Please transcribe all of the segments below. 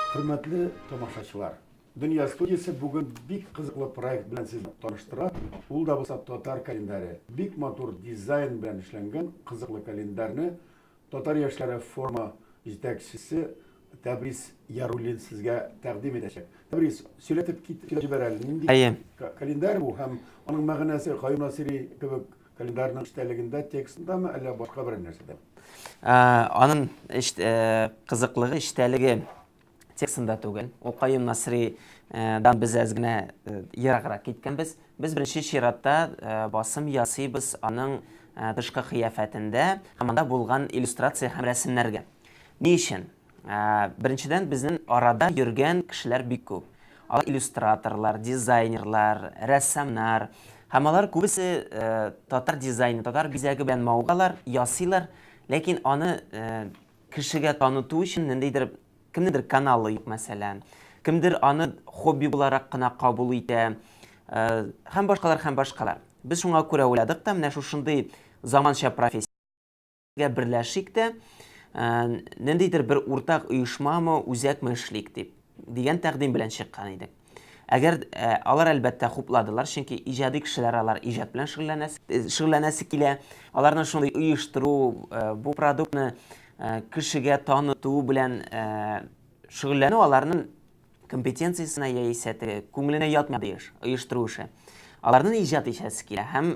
Хөрмәтле тамашачылар, Дөнья студиясе бүген бик кызыклы проект белән сезне таныштыра. Ул да булса татар календаре. Бик матур дизайн белән эшләнгән кызыклы календарьне Татар яшьләре форумы җитәкчесе Тәбрис Яруллин сезгә тәкъдим итәчәк. Тәбрис, сөйләтеп кит, сөйләтеп җибәр әле, нинди Әйе. календарь бу һәм аның мәгънәсе Каюм Насыйри кебек календарьның эчтәлегендә, текстындамы, әллә башка берәр нәрсәдәме? Аның кызыклыгы, эчтәлеге текстында түгел. Ул Каюм Насри дан без әз генә ераграк киткәнбез. Без беренче чиратта басым ясыйбыз аның тышкы кыяфәтендә һәм анда булган иллюстрация һәм рәсемнәргә. Ни өчен? Беренчедән, безнең арада йөргән кешеләр бик күп. Алар иллюстраторлар, дизайнерлар, рәссамнар һәм алар күбесе татар дизайны, татар бизәге белән мавыгалар, ясыйлар, ләкин аны Кешегә таныту өчен ниндидер, кемнедер каналы юк, мәсәлән. Кемдер аны хобби буларак кына кабул итә. Һәм башкалар, һәм башкалар. Без шуңа күрә уйладык та, менә шушындый заманча профессия гә берләшик тә, ниндидер бер уртак оешмамы, үзәкме эшлик дип, дигән тәкъдим белән чыккан идек. Әгәр алар әлбәттә хупладылар, чөнки иҗади кешеләр алар иҗат белән шөгыльләнәсе килә. Аларны шундый оештыру, бу продуктны кешегә таныту белән шөгыльләнү аларның компетенциясенә яисә теге күңеленә ятмый еш оештыру эше. Аларның иҗат итәсе килә һәм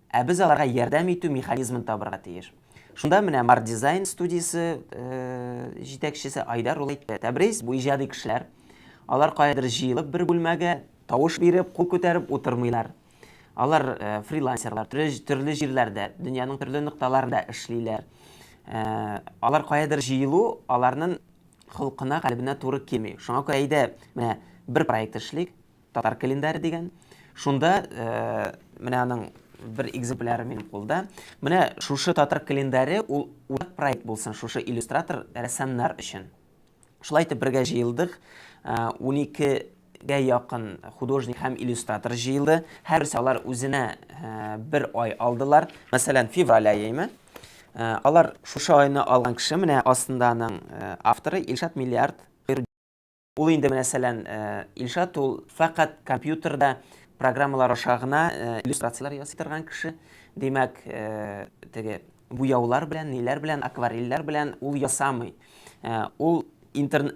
Ә без аларга ярдәм итү механизмын табырга тиеш. Шунда менә Март дизайн студиясе җитәкчесе Айдар ул әйтте, Тәбрис, бу иҗади кешеләр. Алар каядыр җыелып бер бүлмәгә тавыш биреп, кул күтәреп утырмыйлар. Алар фрилансерлар, төрле җирләрдә, дөньяның төрле нокталарында эшлиләр. Алар каядыр җыелу аларнын холкына, калебенә туры килми. Шуңа күрә әйдә, менә бер проект эшлик. татар календаре дигән. Шунда э, менә аның бер экземпляры минем кулда. Менә шушы татар календаре ул уртак проект булсын шушы иллюстратор рәссамнар өчен. Шулай итеп бергә җыелдык. 12 э, гә якын художник һәм иллюстратор җыелды. Һәрберсе алар үзенә э, бер ай алдылар. Мәсәлән, февраль айымы? Э, алар шушы айны алган кеше менә астында аның авторы Илшат Миллиард Ул инде менә сәлән Илшат ул фәкать компьютерда программалар аша гына иллюстрацияләр ясый торган кеше. Димәк, теге буяулар белән, ниләр белән, акварельләр белән ул ясамый. Ул интер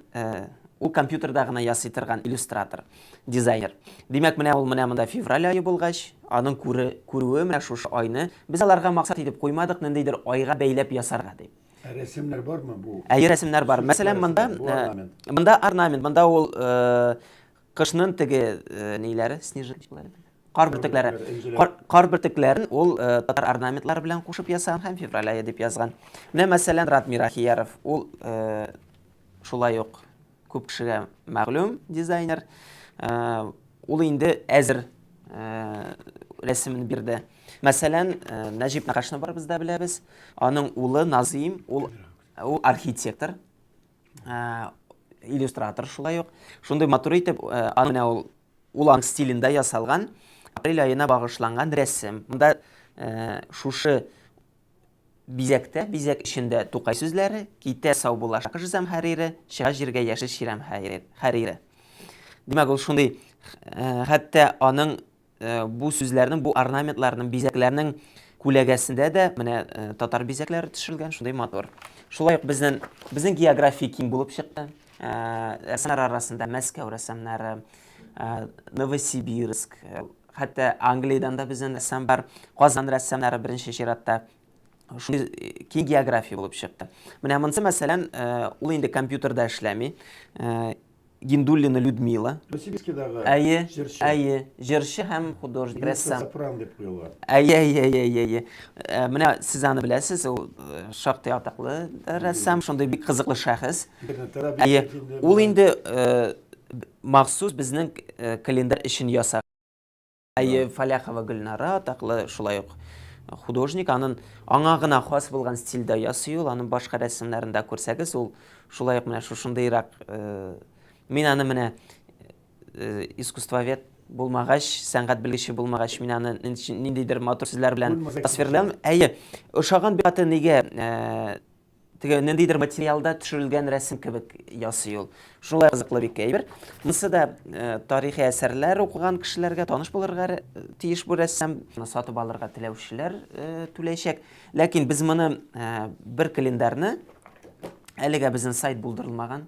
ул компьютерда гына ясый торган иллюстратор, дизайнер. Димәк, менә ул менә монда февраль ае булгач, аның күрүе менә шушы айны. Без аларга максат итеп куймадык, ниндидер айга бәйләп ясарга дип. Ә рәсемнәр бармы бу? Әйе, рәсемнәр бар. Мәсәлән, монда монда орнамент, монда ул кышның теге ниләре, снежинкалары. Кар бөртекләре. Кар бөртекләрен ул татар орнаментлары белән кушып ясаган һәм февраль ае дип язган. Менә мәсәлән, Радмир Ахияров, ул шулай ук күп кешегә мәгълүм дизайнер. Э, ул инде әзер э, рәсемен бирде. Мәсәлән, э, Нәҗип Нәкашны барыбыз да беләбез. Аның улы Назим, ул ул архитектор, иллюстратор шулай ук. Шундый матур итеп, аны менә ул улан стилендә ясалган апрель аена багышланган рәсем. Монда шушы Бизәктә, бизәк эчендә Тукай сүзләре, Китә сау була Шакыш зәмһәрире, Чыга җиргә яшел чирәм хәрире. Димәк, ул шундый, хәтта аның бу сүзләрнең, бу орнаментларның, бизәкләрнең күләгәсендә дә менә татар бизәкләре төшерелгән, шундый матур. Шулай ук безнең, безнең география киң булып чыкты. Рәссамнар арасында Мәскәү рәссамнары, Новосибирск, Хәтта Англиядән дә безнен рәссам бар. Казан рәссамнары беренче чиратта. Шундый киң география булып чыкты. Менә монсы, мәсәлән, ул инде компьютерда эшләми. Гиндуллина Людмила. Новосибирскидагы җырчы. Әйе, әйе. Җырчы һәм художник, рәссам. Мецо-сопран дип куела. Әйе, әйе, әйе, әйе. Менә сез аны беләсез, ул шактый атаклы рәссам, шундый бик кызыклы шәхес. Интернетта да бик әйе. Ул инде Махсус безнең календарь өчен ясаган. Әйе, Фаляхова Гөлнара атаклы шулай ук художник, анын аңа гына хас булган стильдә ясый ул, анын башка рәсемнәрен дә күрсәгез, ул шулай ук менә шушындыйрак, мин аны менә искусствовед булмагач, сәнгать белгече булмагач, мин аны ниндидер матур сүзләр белән тасвирлам. Әйе, ошаган бик каты нигә теге ниндидер материалда төшерелгән рәсем кебек ясый ул. Шулай кызыклы бик әйбер. Монысы да э, тарихи әсәрләр укыган кешеләргә таныш булырга э, тиеш бу рәссам. Моны сатып алырга теләүчеләр э, түләячәк. Ләкин без моны бер календарьны әлегә безнең сайт булдырылмаган,